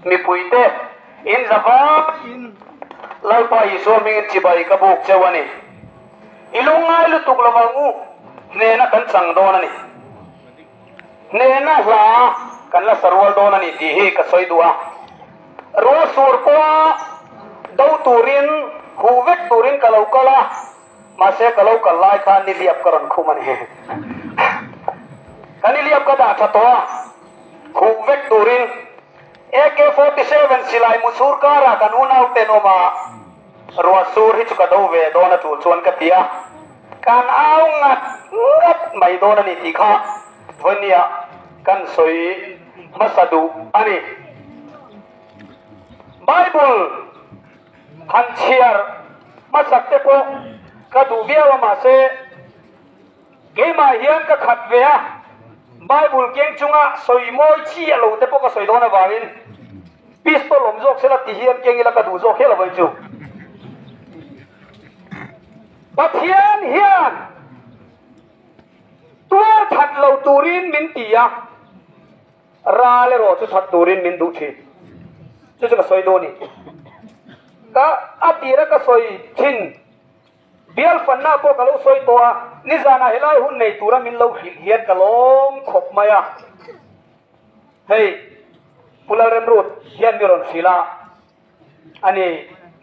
Mipui te in za vai in Lalpa Isua mingin chibai ka buk cheu a ni. I lungngai lutuk lo ang u, hnehna kan chang dawn a ni. Hnehna hla kan la sa rual dawn a ni tih hi ka sawi duh a. Rual sur pawha do turin, huh vek turin ka lo kal a. Mahse ka lo kal lai khan nihliap ka rawn khum a ni. Ka nihliap ka dah tha tawh a, huh vek turin. AK forty seven silai mu sur karah kan unauten awm a, ruah sur hi chu ka do ve dawn a tul chuan ka ti a, kan au ngat ngat mai dawn a ni tih kha Vanya kan sawi hmasa duh a ni. Bible. Han chhiar hmasak te pawh ka duh viau a mahse keimah hian ka khat ve a, Bible keng chunga sawi mawi chi a lo te pawh ka sawi dawn avangin pistol awm zawk sela ti hian keng ila ka duh zawk hial avangin chu Pathian hian tualthat lo turin min ti a. Ra leh rawh chu chhan turin min duh thin. Chu chu ka sawi dawn i ka a tira ka sawi thin. Bialfanna pawh ka lo sawi tawh a, nizanah helai hun nei tura min lo hrilh hian ka lawm khawp mai a. Hei, Pu Lalremrut hian mi rawn hrilh a. A ni,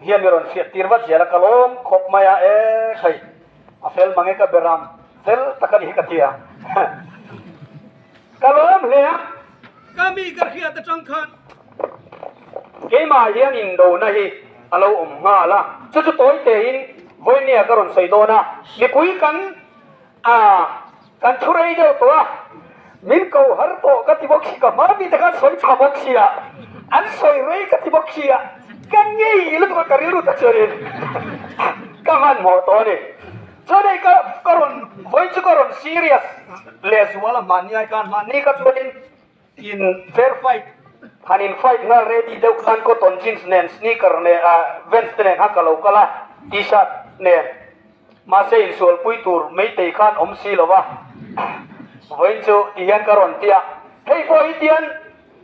hian i rawn fiah tir vat zel a, ka lawm khawp mai a e khai, a fel mang e ka beram fel tak a ni ka ti a, ka lawm hle a, ka mi ka hriat atang khan keimah hian indona hi a lo awm nghal a, chu chu tawi tein vawinia ka rawn sawi dawn a, mipui kan. A, kan thu rei deuh tawh a, min ko har tawh ka ti bawk si ka hmai mite khan sawi chhuah bawk si a, an sawi rei ka ti bawk si a, ka ngei lutuk a ka rilru ta chuanin ka hmanhmawh tawh a ni. Chuan hei ka rawn vawiin chu ka rawn serious leh zual a hmanni a, ka hmanni kha chuanin In fair fight, han in fight nghal ready deuh khan cotton jeans nen, sneaker nen ah Vans te nen khan ka lo kal a, T-shirt nen. Mahse in sualpui tur meitei khan awm si lo va, vawiin chu ti hian ka rawn ti a. Hei pawh hi tian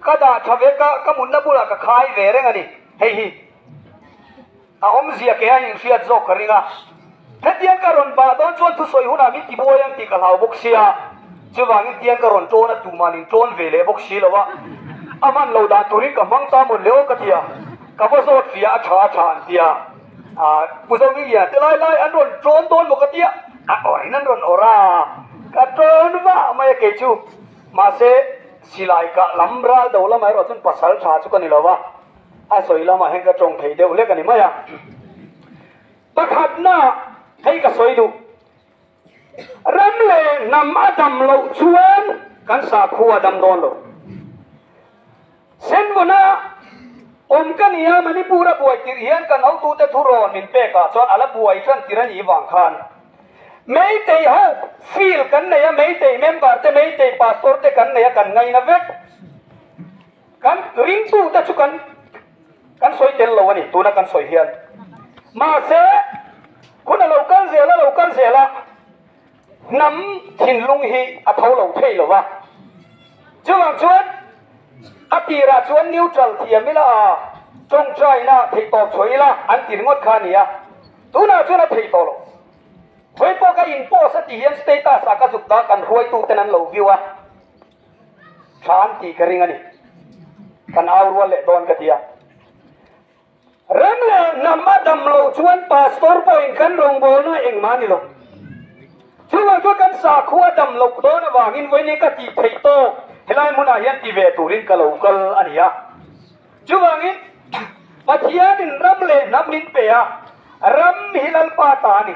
ka dah tha ve, ka ka mutna bulah ka khai ve reng a ni hei hi. A awmzia keng a inhriat zawk ka ring a, hetiang ka rawn bah dawn chuan thusawi hunah min tibuai ang tih ka hlau bawk sia, chuvangin tiang ka rawn tawn a tumah nin tawn ve leh bawk si lo a, a man lo dan turin ka hmang ta mawn leh aw ka ti a, ka va zawt fia a tha a tha an tia ah Pu Zawmiliana te lai lai an rawn tawn dawn bawk a tia a awrin an rawn awrh a, ka tawn vah mai a kei chu, mahse silai kah lam ral do lamah erawh chuan pasal tha chu ka ni lo a, A sawi lamah hian ka tawng thei deuh hlek a ni mai a. Pakhatna hei ka sawi duh. Ram leh hnam a dam loh chuan kan sakhu a dam dawn lo. Senvona awm ka ni a, Manipur a buai tirh hian kan hotute thu rawn min pek ah chuan a la buai tlan tirh a nih vang khan. Meitei ho field kan nei a, Meitei member te, Meitei pastor te kan nei a, kan ngaina vek. Kan ringtu te chu kan kan sawi tel lo a ni, tuna kan sawi hian. Mahse, hun a lo kal zel a lo kal zel a, hnam thinlung hi a tho lo thei lo va. Chuvang chuan a tirah chuan neutral thiam ila a, tawngtaina thei tawp chhuah ila an tir ngawt kha a ni a, tunah chuan a thei tawh lo. Hoi pawh ka in post a ti hian status ah ka zuk ta kan hruaituten an lo view a. Thla an tih ka ring a ni. Kan au rual leh dawn ka ti a. Ram leh hnam a dam lo chuan Pastor pawhin kan rawn bawl ngai engmah ni lo. Chuvang chuan kan sakhua a dam loh dawn avangin vawiin ka tih theih tawk helai hmunah hian ti ve turin ka lo kal a ni a. Chuvangin Pathianin ram leh hnam min pe a, ram hi Lalpa ta a ni.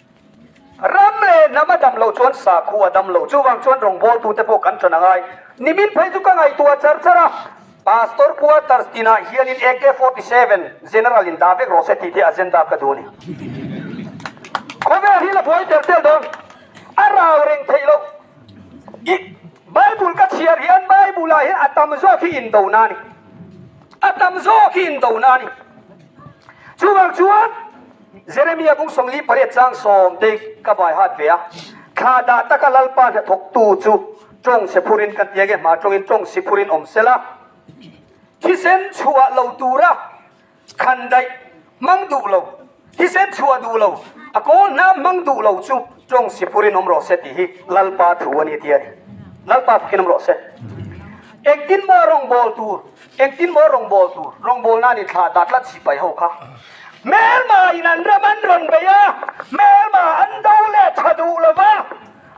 Ram leh hnam a dam lo chuan sakhu a dam lo. Chuvang chuan rawngbawltu te pawh kan tan angai. Nimin phei chu ka ngaihtuah char char a. Pastor quarters tinah hianin AK forty seven General in dah vek rawh se tih te a zenda ka duh a ni. Khawvel hi la buai tel tel dawn. A rau reng theih loh. I Bible ka chhiar hian Bible ah hian a tam zawk hi indona a ni. A tam zawk hi indona a ni. Chuvang chuan Jeremia bung sawmli pariat chang sawm te ka vai hat ve a, thla dah taka Lalpa hnathawk tu chu tawng se phur in kan ti ang e, hma tawngin tawng si phur in awm se la, thisen chhuah lo tura khan daih hmang duh lo, thisen chhuah duh lo, a kawl hna hmang duh lo chu tawng si phur in awm rawh se tih hi Lalpa thu a ni, a ti a ni. Lalpa fakin awm rawh se. Engtin maw a rawngbâwl tur? Engtin maw rawngbâwl tur rawngbâwlna nih thla dah tlat si pai ho kha hmelma in an ram an rawn bei a, hmelma an do leh ṭha duh lo va,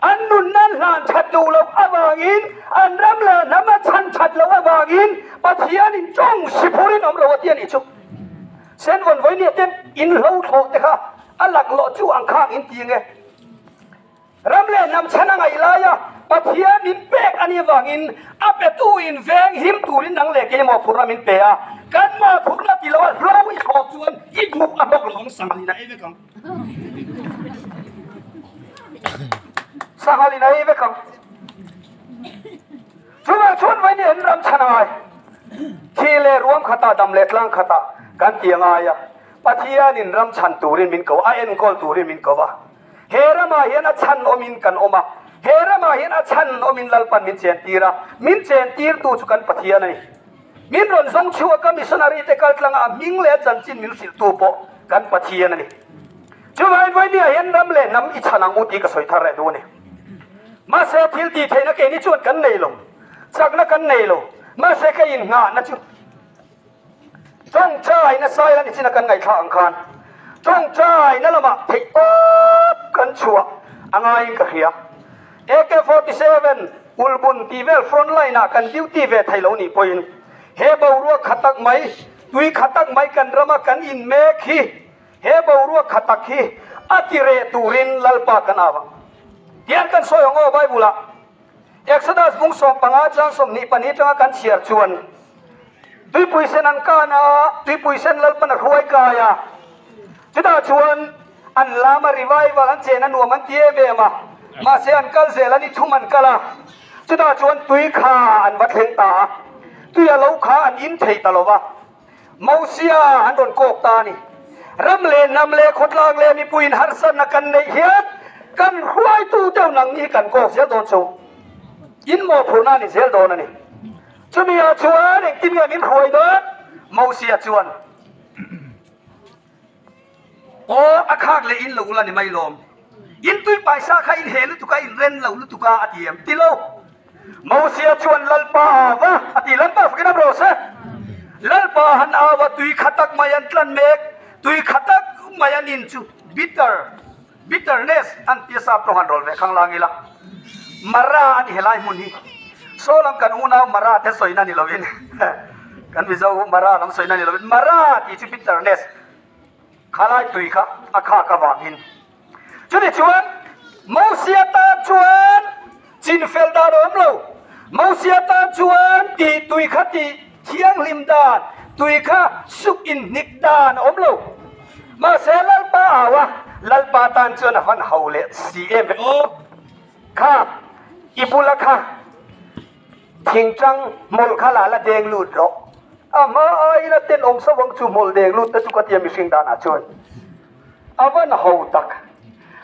an nunna an hlan ṭhat duh loh avângin an ram leh hnam a chhan ṭhat loh avângin Pathianin ṭawng si phur in awm lo a ti a nih chu. Senvawnvawi nia ten inhlawhthlawhte kha a laklawh chu ang khângin ti ang e. Ram leh hnam chhan a ngaih laia Pathian min pek a nih vangin a petu in veng him turin nang leh kei maw phurna min pe a, kan mah phurna ti loh a hlo i hrawk chuan i duh a hlawk lo ang Sanghalin a ei vek ang. Sanghalin a ei vek ang. Chuvang chuan vawinia in ram chhan a ngai. Thi leh ruam khatah dam leh tlang khatah kan ti a ngai a, Pathian in ram chhan turin min ko a, a enkawl turin min ko a. He ramah hian a chhan awmin kan awm a, he ramah hian a chhan awmin lalpan min chen tir a, min chen tirtu chu kan Pathian a ni. Min rawn zawng chhuak a missionary-te kaltlanga a hming leh a chanchin min hrilhtu pawh kan Pathian a ni. Chuvain vawinia hian ram leh hnam i chhan ang u tih ka sawi thar reh duh a ni. Mahse, thil tihtheihna keini chuan kan nei lo, chakna kan nei lo, mahse kei inngahna chu. Tawngtaina Saila ni china kan ngaithla ang khan Tawngtaina lamah theih tawp kan chhuah a ngaiin ka hria. AK forty seven Ulbun tih vel front line ah kan duty ve thei lo nih pawhin he boruak kha tak mai, tui kha tak mai kan rama kan in mek hi he boruak kha tak hi a ti reh turin Lalpa kan au ang. Tiang kan sawi awng aw Bible ah. Exodus hmung sawm panga chang sawm hnih pahnih atanga kan chhiar chuan tuipui sen an kan a, tuipui sen lalpan a hruai kai a, chutah chuan an lama revival an chen a nuam an ti em em a, mahse an kal zel a ni thum an kal a, chutah chuan tui kha an va thleng ta a, tuia lo kha an in thei ta lo va. Mosia an rawn kawk ta a ni. Ram leh hnam leh khawtlang leh mipuiin harsatna kan neih hian kan hruaitu deuh nang hi kan kawk zel dawn chauh. In mawhphurhna a ni zel dawn a ni. Chumi ah chuan engtin nge min hruai dawn? Mosia chuan. Aw, a khak leh in lo la ni mai lawm. In tui paisa kha in he lutuk a, in ren lo lutuk a, a ti em ti lo. Mosia chuan, Lalpa a au va, a ti. Lalpa fakin am rawh se. Lalpa han au a, tui kha tak mai an tlan mek. Tui kha tak mai an in chu, bitter. Bitterness an tia sap tawng han rawl ve khang la ngila. Mara a ni helai hmun hi. Saw lam kan unau mara te sawi na ni lovin kan mizo ho mara lam sawi na ni lovin mara tih chu bitterness khalai tui kha a khak avangin. Chutichuan Mosia tan chuan. Chinfel dan a awm lo. Mosia tan chuan tih tui kha tih thianghlim dan, tui kha suk in hnik dan a awm lo. Mahse Lalpa au a, Lalpa tan chuan a hman ho leh si em em awk kha i bula kha thing tang hmawlh kha la la deng lut rawh. A hma aiin a tenawm sauh ang chu hmawlh deng lut te chu ka ti a mihring danah chuan. a va na ho tak.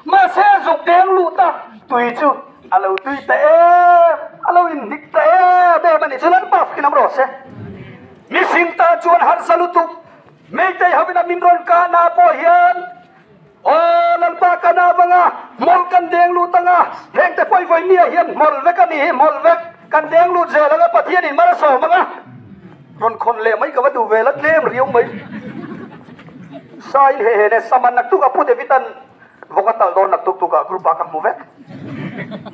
Mahse zuk deng luh ta tui chu a lo tui ta em, a lo in hnik ta em em a nih chu lam pah in awm rawh se. Mihring tan chuan harsa lutuk Meitei ho ina min rawn kah na pawh hian Aw Lalpa ka na vang a, hmol kan deng lut ang a, heng te pawh i vawi mi ah hian hmol vek a ni hi, hmol vek kan deng lut zel ang a, Pathian in hmara sawm ang a. Rawn khawn leh mai ka va duh vel a tlem riau mai. Sain he he nge saman nak tuk a pu David an vawng a tal dawr nak tuk tuk a group ah ka hmu vek.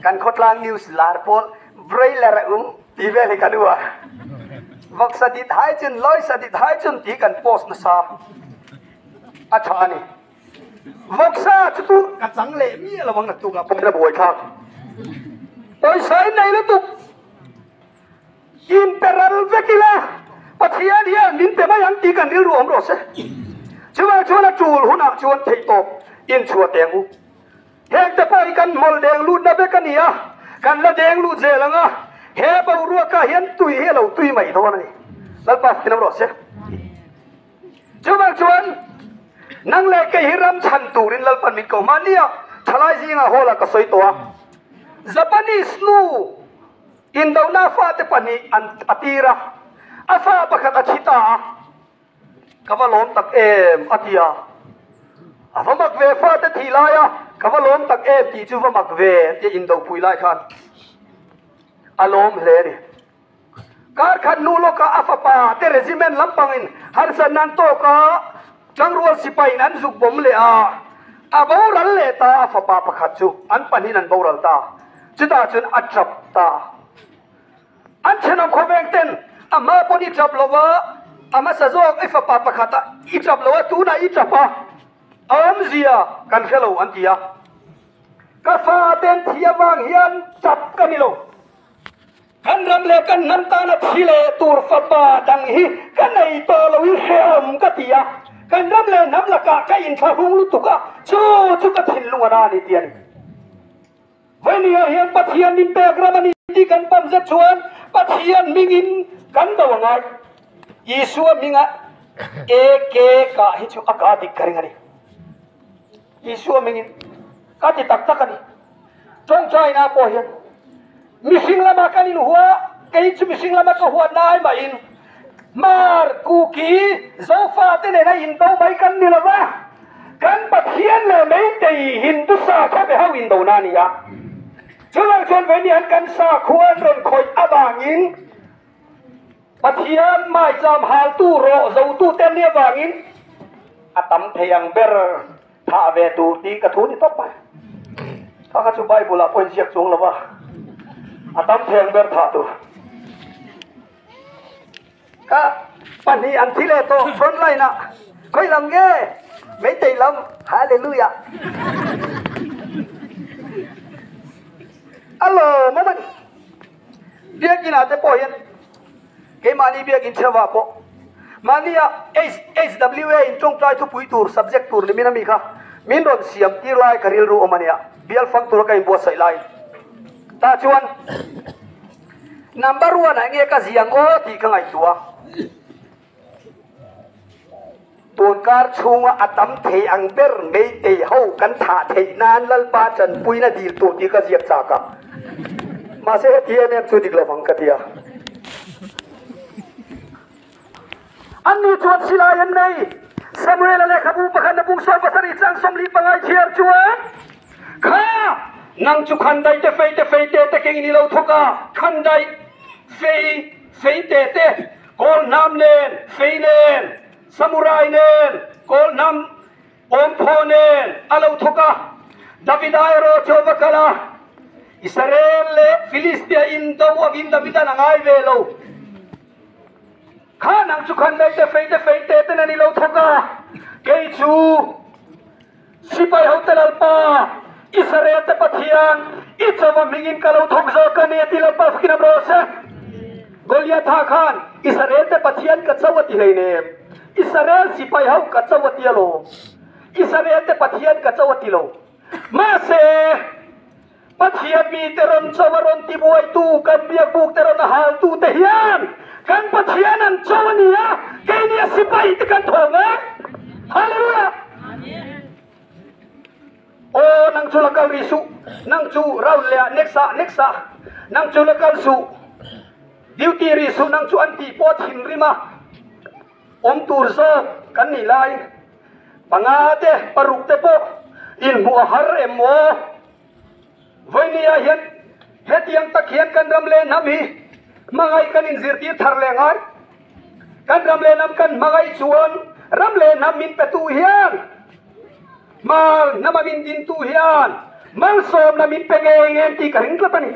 Kan khawtlang news lar pawl broiler a um ti vel hi ka hnu a. Vawk sadit hai chun lawi sadit hai chun tih hi kan post nasa a tha ani. Vawk sa chutu ka chang leh miah lovang nak tuk a pawimawh a buai thlak. Pawisa in nei lutuk. In pe ral vek ila Pathian hian min pe mai ang tih kan rilru awm rawh se. Chuvang chuan a tul hunah chuan theih tawp in chhuah teng u. Heng te pawh hi kan hmawlh deng lutna vek a ni a, kan la deng lut zel ang a, he boruakah hian tui hi a lo tui mai dawn a ni. Lalpa fihnam rawh se. Chuvang chuan nang leh kei hi ram chhan turin Lalpan min ko hmania thalai zingah hall ah ka sawi tawh a, Japanese nu, Indohna fate pahnih an a tir a, a fa pakhat a thi ta a, Ka va lawm tak em? a ti a, a va mak ve fate thih lai a, Ka va lawm tak em tih chu va mak ve a ti a, indohpui lai khan a lawm hle a ni. Kar khat hnu lawkah a fapa te regiment lampangin harsa nan tawk a, Tlangrual sipai in an zuk bawm leh a, a boral leh ta a fapa pakhat chu an pahnih in an boral ta, chutah chuan a tlap ta. An thenawm khawveng ten a hma pawn i tlap lo a, a hmasa zawk i fapa pakhat a i tlap lo a, tunah i tlap a, a awmzia kan hre lo an ti a. Ka fa ten thih avang hian tlap ka ni lo. Kan ram leh kan hnam tana thi leh tur fapa dang hi ka nei tawh lo i hrehawm ka ti a, kan ram leh hnam lakah ka inthlahrung lutuk a, chu chu ka thinlung a na a ni tih a ni. Vawinia hian Pathian min pek ram a ni tih kan pawm zet chuan Pathian hmingin kan do a ngai. Isua hminga e ke kah hi chu a ka dik ka ring a ni. Isua hmingin ka ti tak tak a ni. Chuan China pawh hian mihring lama kan inhua, kei chu mihring lama ka huat na ai mah in hmar kuki Zofa te nen a indo mai kan ni lova, kan Pathian leh meitei Hindu sa khaw ve ho indo na nia. Chuvang chuan vei nihan kan sa khua an rawn khawih avangin Pathian mai cham haltu rawh zotute an ni avangin a tam thei ang ber. Tha a ve tur tih ka thu ni tawp mai. Kha kha chu Bible ah pawhin ziak chuang lo va, a tam theng ber thah tur. Ka pahnih an thi leh tawh front line ah, khawi lam nge, Meitei lam, Hallelujah. A lawm a mani. Biakina te pawh hian keimahni biak inchhava pawh mahnia HHWA in tawngtlai thupui tur subject tur ni min ami kha min rawn siam tir lai ka rilru awm ania bial fang tura ka inbuatsaih lai ta chuan number one ah nge ka zia maw tih ka ngaihtuah a. Tun kar chhunga a tam thei ang ber Meitei ho kan thah theih nan Lalpa tanpuina dil tur tih ka ziak chak a. Mahse heti em em chu dik lovang ka ti a. An nu chuan silai an nei. Samuela lehkhabu pakhat na bung sawn pasarih chang sawmli pangai thiar chuan, Kha! Nang chu khan dai te fei te fei te te keng in i lo thawk a, khan dai fei fei te te. Kawl hnam nen, fei nen, samurai nen, kawl hnam pawmphaw nen a lo thawk a, Davida erawh Jehova kal a, Israel leh Filistia in do angin Davida na ngai ve lo khan ang chu khan meite feite feite ten an i lo thawk a, kei chu. Sipai hote lalpa, Israel te Pathian i chawva hmingin ka lo thawk zawk a ni, a ti lalpa fakin am rawh se. Goliatha khan, Israel te Pathian ka cho a ti hlei ne em? Israel sipai ho ka cho a ti alawm. Israel te Pathian ka cho a ti lo. Mahse. Pathian mite rawn chaw a rawn ti buaitu kan biak bukte rawn a haltu te hian kan Pathian an chaw a ni a, kei nia sipai te kan thaw ngai. Hallelujah! Aw nang chu la kal rih suh, nang chu round leh ah next ah next ah nang chu la kal suh, duty rih suh nang chu an tih pawh a thinrim a. awm tur zawk kan nih lai. Panga te paruk te pawh inhmuh a har em maw? Vawinia hian hetiang tak hian kan ram leh hnam hi hmangaih kan inzirtir thar leh ngai. Kan ram leh hnam kan hmangaih chuan ram leh hnam min petu hian, Hmar hnama min dintu hian malsawmna min pe nge nge an tih ka ring tlat a ni.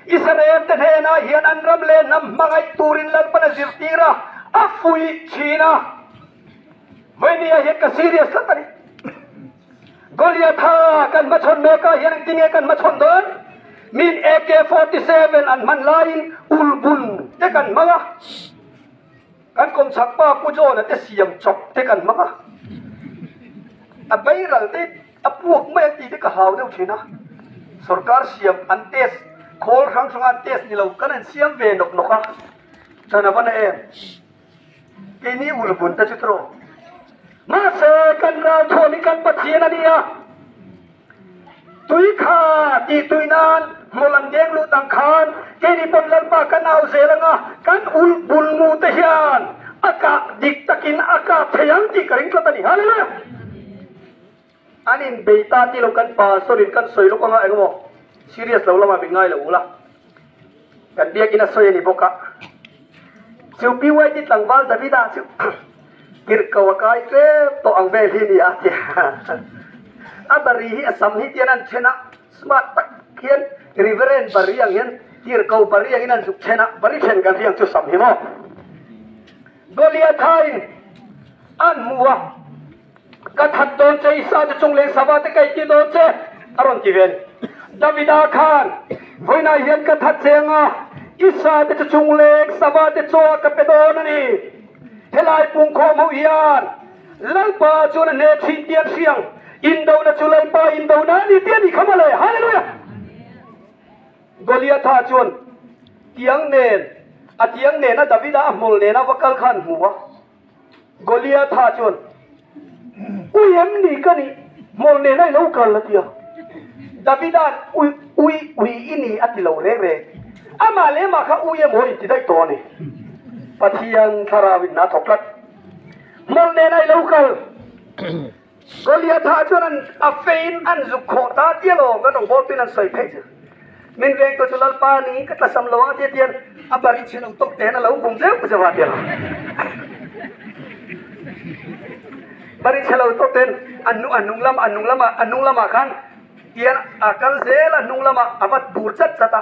Israel te hnenah hian an ram leh hnam hmangaih turin Lalpan a zirtir a, a fuih thin a. Vawinia hian ka serious tlat a ni. Goliatha kan hmachhawn mekah hian engtin nge kan hmachhawn dawn? Min AK-47 an hman laiin ulbun te kan hmang a. Kan kawmchhak pa Pu John-a te siam chawp te kan hmang a, a beiral te a puak mai ang tih te ka hlau deuh thin a, sorkar siam an test khawl hrang hrang a test ni lo kan han siam ve nawk nawk a, chhan a va na em? Keini ur bun te chu trawk. Mahse kan ralthuam hi kan Pathian a nia. Tui kha tih tui nan hmu lang deng lut ang khan kei nih pawn Lalpa ka nau zel anga kan ulh bul mu te hian a kah dik takin a kap thei ang tih ka ring tlat a ni. Hallelujah! An inbeih ta tilo kan pa sorry kan sawi lawk anga engemaw serious lo lamah min ngailo ula. Kan biakin a sawi a ni bawk a. Chu pyt tlangval Davida chu tirh ko a kai tlep tawh ang vel hi nia a ti a. A bari hi a sam hi tian an then a, smart tak hian Reverend bari ang hian tirh ko bari angin an zuk then a, bari then kan hriang chu sam hi maw? Goliatha in an hmu a. Ka that dawn che, Isate chung leh sava te ka i ti dawn che, a rawn ti ve a ni. Davida khan, Vawiinah hian ka that che anga Isate chu chung leh sava te chuan ka pe dawn a ni. Helai pungkhawm ho hian Lalpa chuan a hnek thin tia an hria ang. Indona chu Lalpa indona a ni tia ni kha mah le! Hallelujah! Goliatha chuan tiang nen a tiang nena Davida a hmawlh nena va kal kha an hmu a. Goliatha chuan, Ui em ni ka nih, Hmawr nena i lo kal a ti a. Davida'n, Ui, ui, ui i ni a ti lo reng reng. Amah leh mah kha ui emaw in ti daih tawh a ni. Pathian thlarau in a thawk tlat. Hmawr nena i lo kal. Goliath ha chuan an a feiin an zuk khawh ta tial aw ka nawm bawlpin an sawi phei zel. Min veng tawh chu Lalpa niin ka tlasam lo a tia tian a bari chhe lo tawk te hian a lo kum zeuh zeuh a tial aw. Bari chhe lo tawk ten a a nung lam a nung lamah a nung lamah khan tian a kal zel a a nung lamah a vat bur chat chat a.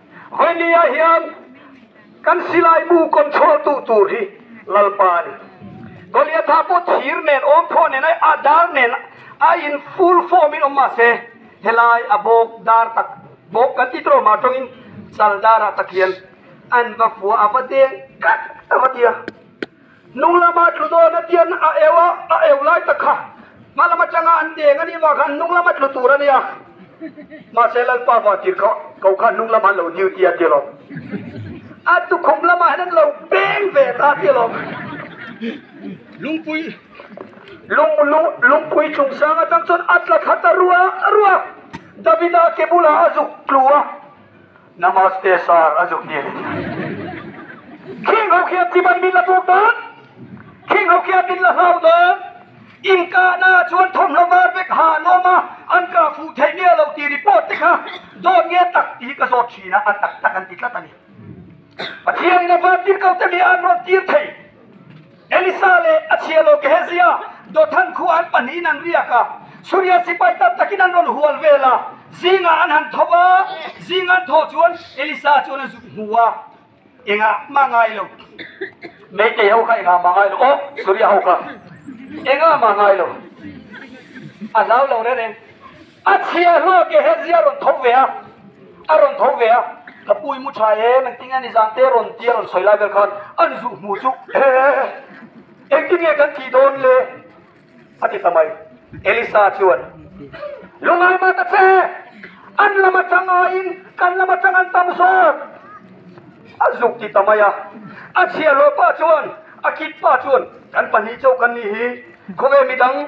Hawile ah hian kan silai bu control duh tur hi Lalpa a ni. Goliatha pawh thir nen, awmkhawh nen, a dar nen a in full form in awm mah se, helai a bawk dar tak bawk kan tih tawrh mah tawngin chal darah tak hian an va fuah, a va deng kat a va ti a. Hnung lama tlu dawn atian a eu a, a eu lai tak kha hma lam atanga an deng a nih vang khan hnung lama tlu tur a nia. Mahse Lalpa vang tir kha ko kha hnung lamah an lo duty a ti alawm. A tukhum lamah hian an lo beng ve ta a ti alawm. Lungpui lung lung lungpui chung sang atang chuan a tla that a rua a rua. Davida ke bulah a zuk tlu a. Namaste sir a zuk hian khing ho khian chiban min la tuk dawn khing ho khian min la hlau dawn in kah na chuan thawmhnaw var vek ha lawm a an kah fuh theih nge lo tih report te kha dawn nge tak tih ka zawt thin a a tak tak an ti tlat a ni Pathian in a va tir ko te mi a an rawn tir thei. Elisa leh a chhialo Gehezia Dothan khua an pahnihin an riak a, Suria sipai tam takin an rawn hual vel a, zingah an han tho a, zing an tho chuan Elisa chuan a zut hmu a, engah mah ngai lo? Meitei ho kha engah mah ngai lo? Aw, Suria ho kha engah mah ngai lo? A hlau lo reng reng. A chhia hlak e, he zia rawn tho ve a, a rawn tho ve a. Ka pu i mu tha em engtin nge nizan te rawn ti a rawn sawi lai vel khan an zuh hmuh chu he engtin nge kan ti dawn le a ti ta mai. Elisa chuan lungai mah ta che, an lam atanga in kan lam atang an tam zawk a zuk ti ta mai a. A chhia hlawk pa chuan a kit pa chuan kan pahnih chauh kan nih hi khawve midang.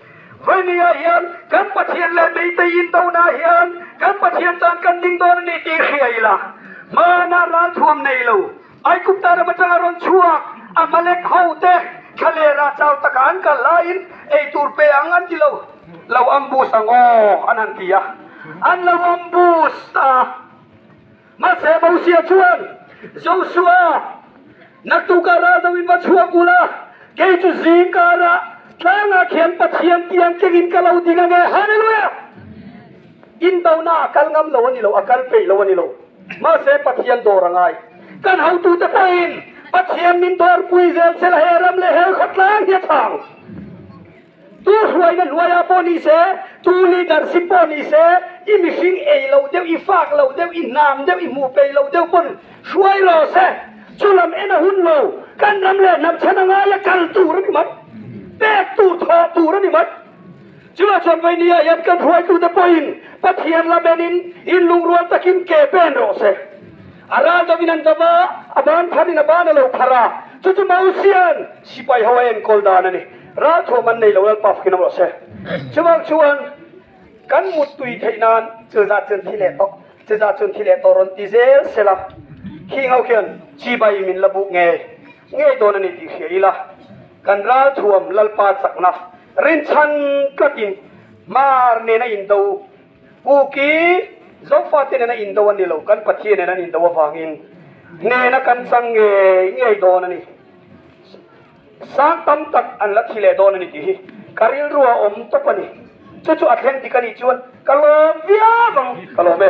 Vai ni ah hian kan Pathian leh Meitei in do na hian kan Pathian tan kan ding dawn a ni tih hria ila hman a ral thuam nei lo. Aigupta ram atang a rawn chhuak Amalek ho te thla leh rah chau takah an kal lai in ei tur pe ang an ti lo, lo ambush ang aw an han ti a, an lo ambush a. Mahse Mosia chuan, Joshua, nak tukah ral deuhin va chhuak ula, kei chu zing karah tlangah khian Pathian tiang kengin ka lo ding ange. Hallelujah! Indonaah a kal ngam lo a ni lo, a kal peih lo a ni lo. Mahse Pathian dawr a ngai. Kan hotute pawhin Pathian min dawrpui zel se la he ram leh he khawtlang hi a chang. Tu hruaina hnuaia pawh ni se, tu leadership pawh ni se, i mihring ei lo deuh, i fak lo deuh, i hnam deuh, i hmuh peih lo deuh pawh hruai law se. Chu lam en a hun lo. Kan ram leh hnam chhan a ngaia kal tur a ni mai. Pek tur, thawh tur a ni mai. Chulai chuan voi ni ah hian kan hruaitute pawhin Pathian lam en in in lungrual takin ke pen rawh se. A ral deuh in an va va, a ban phar in a ban a lo phar a. Chu chu Mosian sipai ho a enkawl dan a ni. Ralthuam an nei lo lalpa fakin a vawlh se. Chuvang chuan kan muttui theih nan chil zat chuan thi leh tawh, chi zat chuan thi leh tawh rawn ti zel se la, khi ho khian chi bai min la buk ngei ngei dawn a ni tih hria ila, kan ralthuam lalpa chakna rinchhan tlakin hmar nen a indo, pu ki Zofa te nen a indo a ni lo, kan Pathian nen an indo avangin hnena kan chang ngei ngei dawn a ni. Sang tam tak an la thi leh dawn a ni tih hi ka rilru a awm tawp a ni. Chu chu a thleng dik a nih chuan ka lawm viau ang, ka lawm e.